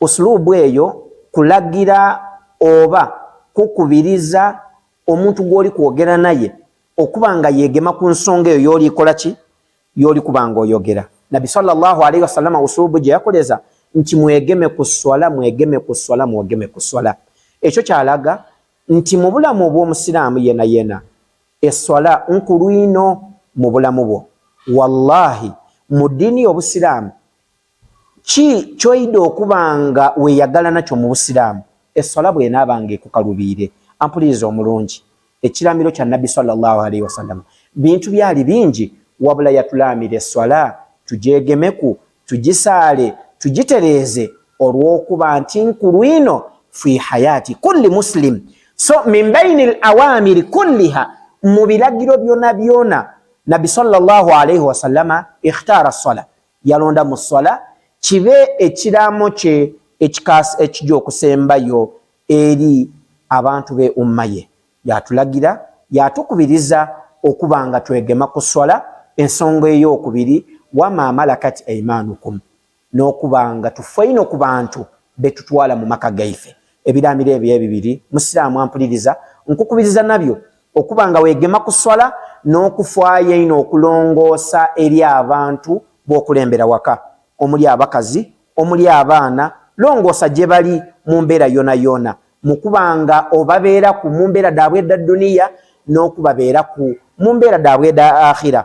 Usluubu eyo kulagira oba kukubiriza omuntu gw'oli kwogera naye okuba nga yeegema ku nsonga eyo y'oli kola ki? Y'oli kuba nga oyogera. Nabbi sala Allahu alaihi wasallama usluubu gye yakoleza nti mwegeme ku sswala, mwegeme ku sswala, mwegeme ku sswala. Ekyo kyalaga nti mu bulamu obw'Omusiraamu yena yena esswala nkulu ino mu bulamu bwo. Wallaahi mu ddiini y'Obusiraamu Ki kyoyida okuba nga weyagala nakyo mu busiraamu eswala bwenaaba nga ekukalubiire? Ampuliriza omulungi, ekiraamiro kya Nabbi swalla Llaahu alaihi wasallama bintu byaali bingi wabula yatulaamira eswala tugyegemeku, tugisaale, tugitereeze olwokuba nti nkulwino fii hayaati kulli Muslim so min baini al-awaamiri kulliha mu biragiro byonabyona Nabbi swalla Llaahu alaihi wasallama ikhtaara swala yalonda mu swala kibe ekiraamo kye ekikaasi ekija okusembayo eri abantu be umma ye yatulagira yatukubiriza okuba nga twegema ku swala ensonga ey'okubiri wama malakat aimanukum n'okuba nga tufeino ku bantu betutwala mu maka gaife Ebiraamiro ebyo ebibiri Musiraamu ampuliriza nkukubiriza nabyo okuba nga weegema ku sswala n'okufaayo ennyo okulongoosa eri abantu b'okulembera waka omuli abakazi, omuli abaana, longoosa gye bali mu mbeera yoonayoona mu kuba nga obabeeraku mu mbeera dhaabwe edha dduniya n'okubabeeraku mu mbeera dhaabwe edha Akhira